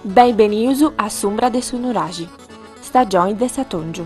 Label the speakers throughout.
Speaker 1: Benvenius a s'umbra de su nuraxi, stagioni de s'atòngiu.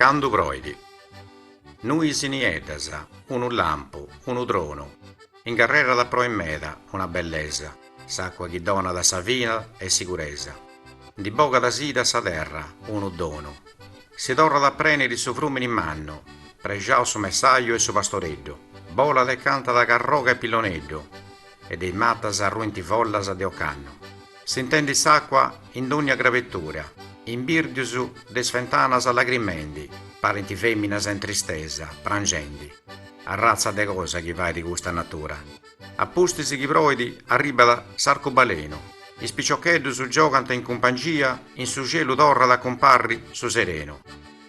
Speaker 2: Candu proit. Nuis nieddas, unu lampu, unu tronu, incarrerat a proi meda una bellesa, s'acua chi donat sa vida e siguresa, ndi bogat sidi a sa terra unu donu, si torrat a preniri su frumini mannu, prexaus su messaju e su pastoreddu, bolat e cantat carroga e pilloneddu, E de is matas arruint follas de ocannu. Sintendi s'acua in dónnia crabetura. Imbirdius de is fentanas lagrimendi. Parint féminas in tristesa, pranxendi. Arratza de cosa chi fait custa natura. A pustis chi proit arribat s'arcubalenu. Is piciocheddus giogant in cumpangia in su cielu torrat a cumparri su serenu.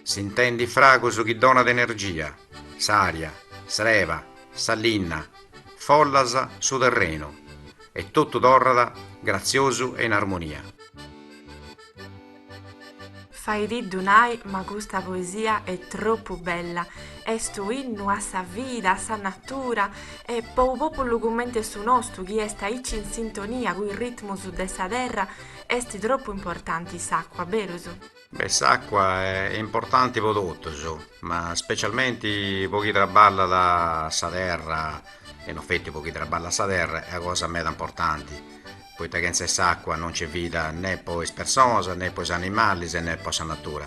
Speaker 2: Sintendi fragus chi donat energia. S'aria, s'erba, sa linna. Follas su terrenu e totu torrat gratziosu e in
Speaker 1: armonia. Faitiddu nai ma custa poesia è tropu bella, est u innu a sa vida, a sa natura e po u populu cumenti est su nostu chi est aici in sintonia cu is ritmus de sa terra est tropu importanti s'acqua, berus? Beh
Speaker 2: s'acqua è importanti po totus, ma specialmenti po chi traballat sa terra, e non feti po chi traballat sa terra, est una cosa meda importanti, poita chentza 'e s'acqua non nc'est vida nè po is personas, nè po is animalis e nè po sa natura.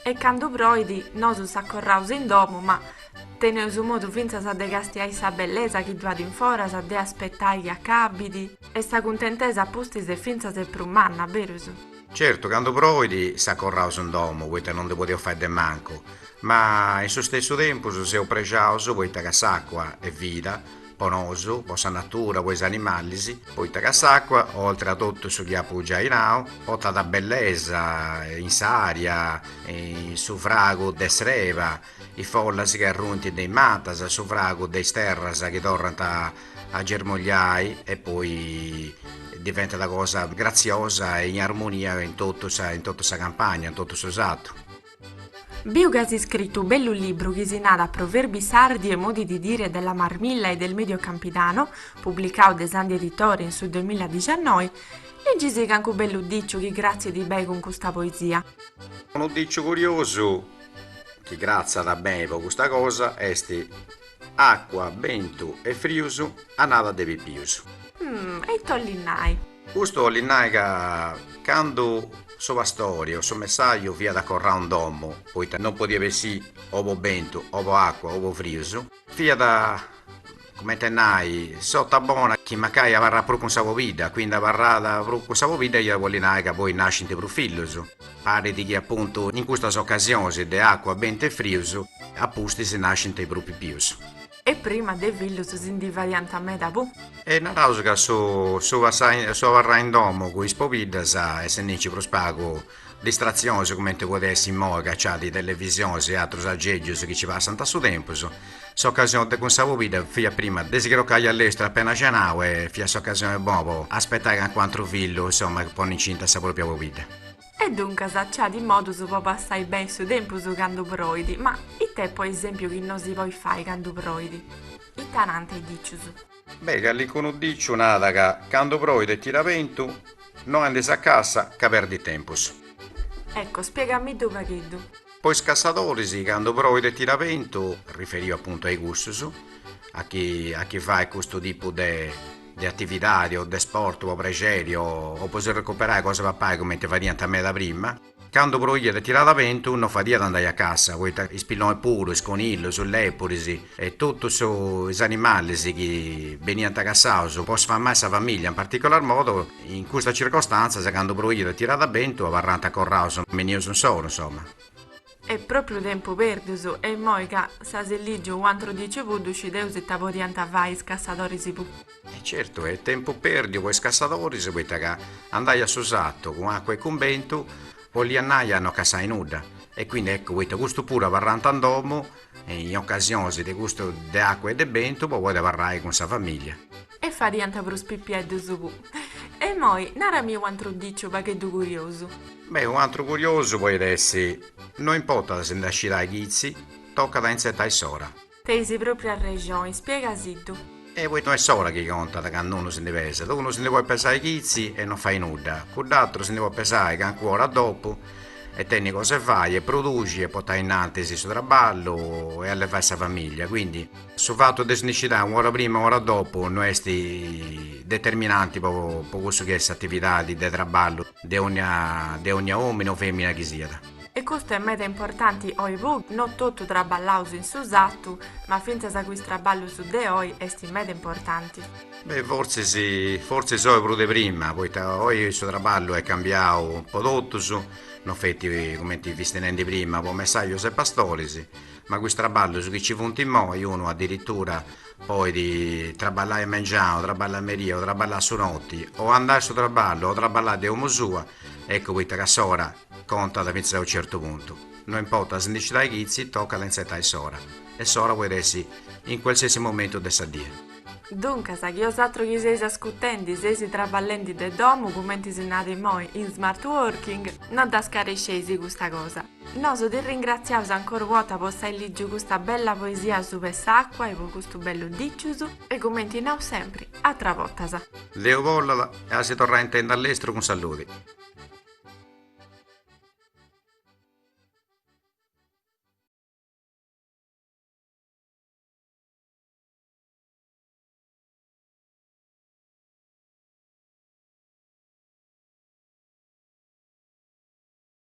Speaker 2: E
Speaker 1: candu proit, nosu s'acorraus in domu, ma teneus modu fintzas de castiai sa bellesa chi ddu at in foras, de aspetai chi acabit, e sa cuntentesa a pustis est fintzas prus manna, berus? Certu,
Speaker 2: candu proit s'acorraus in domu poita non ndi podeus fai de mancu, ma in su stessu tempus seus prexaus poita ca s'acua est vida po nosu, po sa natura, po is animalis, poita ca s'acua, oltre a totu su chi apu giai nau, portat bellesa in s'aria, in su fragu de s'erba, Is follas chi arruint de is matas, su fragu de is terras chi torrant a germogliai e poi diventat cosa gratziosa e in armonia in totu sa in totu sa campagna, in totu su sartu. Biu
Speaker 1: ca as scritu u bellu libru chi si narat Proverbi sardi e modi di dire della Marmilla e del Medio Campidano, publicau de Sandhi Editore in su duemiladixannoi, liggisi cancu bellu diciu chi cratzit bei cun custa poesia. Unu diciu
Speaker 2: curiosu chi cratzat beni po custa cosa est acua, bentu
Speaker 1: e
Speaker 2: frius, annada de pipius.
Speaker 1: Mh, e
Speaker 2: ite 'ollit nai? Custu 'ollit nai ca candu su pastori o su messaju fiat acorrau in domu, poita non podiat bessì o po bentu o po acua o po frius, Fiat, comente a nai, s'ota bona chi mancai abarrat prus cun sa pobidda, quindi abarrat prus cun sa pobidda iat bolli nai ca poi nascint prus fillus, parit chi apuntu in custas ocasionis de acua, bentu e frius, a pustis nascint prus pipius. E
Speaker 1: prima de fillus si ndi fadiant meda puru. E naraus ca su
Speaker 2: su passai su abarrai in domu cun is pobiddas essendinci prus pagu Distrazionis comente podet essi immoi ca ci at is televisionis e atrus agègius chi ci passant a su tempus. S'ocasione de cun sa pobidda fiat prima de si crocai a lestru apena cenau e fiat s'ocasione bona po aspetai cancu atru fillu, insoma, ponni incinta a sa propria pobidda. E
Speaker 1: duncas ci at is modus po passai beni su tempus candu proit, ma it'est po esempiu chi no si poit fai candu proit? Ita nant is dicius? Beh,
Speaker 2: calincunu diciu nada ca candu proit e tirat bentu, no andis a cassa ca perdis tempus. Ecco,
Speaker 1: spiegamiddu u' pagheddu. Po is cassadoris,
Speaker 2: candu proit e tirat bentu, riferiu apuntu a i cussus, a chi a chi fait custu tipu de de atividadi o de sportu po prexeri o po si recuperai cosa 'e papai cumenti fadiant meda prima, Candu proiat e tiràt bentu no fadiat andai a cassa poita is pillonis puru, is conillus, is lepuris e totus is animalis chi beniant cassaus po sfamai sa familia in particolar modu in custas circostàntzias candu proiat e tiràt bentu abarrànt acorraus me is nius insoru insoma.
Speaker 1: Est propriu tempu pèrdiu e immoi ca s'as lìgiu u' antru diciu puru ddu scideus ita podiant fai is cassadoris puru. E certu
Speaker 2: est tempu pèrdiu po is cassadoris poita ca andai a su satu cun acua e cun bentu 'oliat nai a no cassai nudda e quindi eccu poita custu puru abarrànt in domu in ocasionis de custu de acua e de bentu po podi abarrai cun sa famìllia. E
Speaker 1: fadiant prus pipieddus puru. E imoi narami u' antru diciu pagheddu curiosu. Beh, u' antru
Speaker 2: curiosu poit essi, no importat si ndi scidai chitzi, tocat a intzetai s'ora. Tenis
Speaker 1: propriu arrexoni, spiegasiddu. E poita no est
Speaker 2: s'ora chi contat cand'unu si ndi pesat, unu si ndi poit pesai chitzi e no fai nudda, cudd'atru si ndi poit pesai cancu ora dopu e tenni cosa 'e fai e produxi e potai innantis su trabballu e allevai sa famiglia, quindi su fatu de si ndi scidai u'ora prima e u'ora dopu no est determinanti po cussu chi est s'atividadi de trabballu. De ogna omine o femina chi siat. E custu est
Speaker 1: meda importanti oi pu. No totu traballaus in su satu, ma fintzas cu is traballus de oi est meda importanti. Beh fortzis
Speaker 2: fortzis oi prus de prima, poita oi su traballu est cambiau po totus, no feti cumenti fisti nendi prima po messajus e pastoris, ma cu is traballus chi ci funt immoi unu adiritura Poit traballai mengianu, traballai meria, o traballai su noti, o andai a su traballu, o traballai de omu sua, eccu poita ca s'ora contat fintzas a unu certu puntu, no importat si ndi scidai chitzi, tocat a intzetai s'ora, e s'ora poit essi in cualsiasi momentu de sa die. Duncas,
Speaker 1: chi osatru chi seis ascutendi seis traballendi de domu, cumenti si narat immoi, in smart working, no dda scaresceis custa cosa. Nosu ti ringratziaus ancora u' bota po s'ai lìgiu custa bella poesia sup'e s'acua e po custu bellu dicius e cumenti naus
Speaker 2: sempri, atra botas. Deu bollat
Speaker 1: e
Speaker 2: a si torrai intendi
Speaker 1: a
Speaker 2: lestru cun saludi.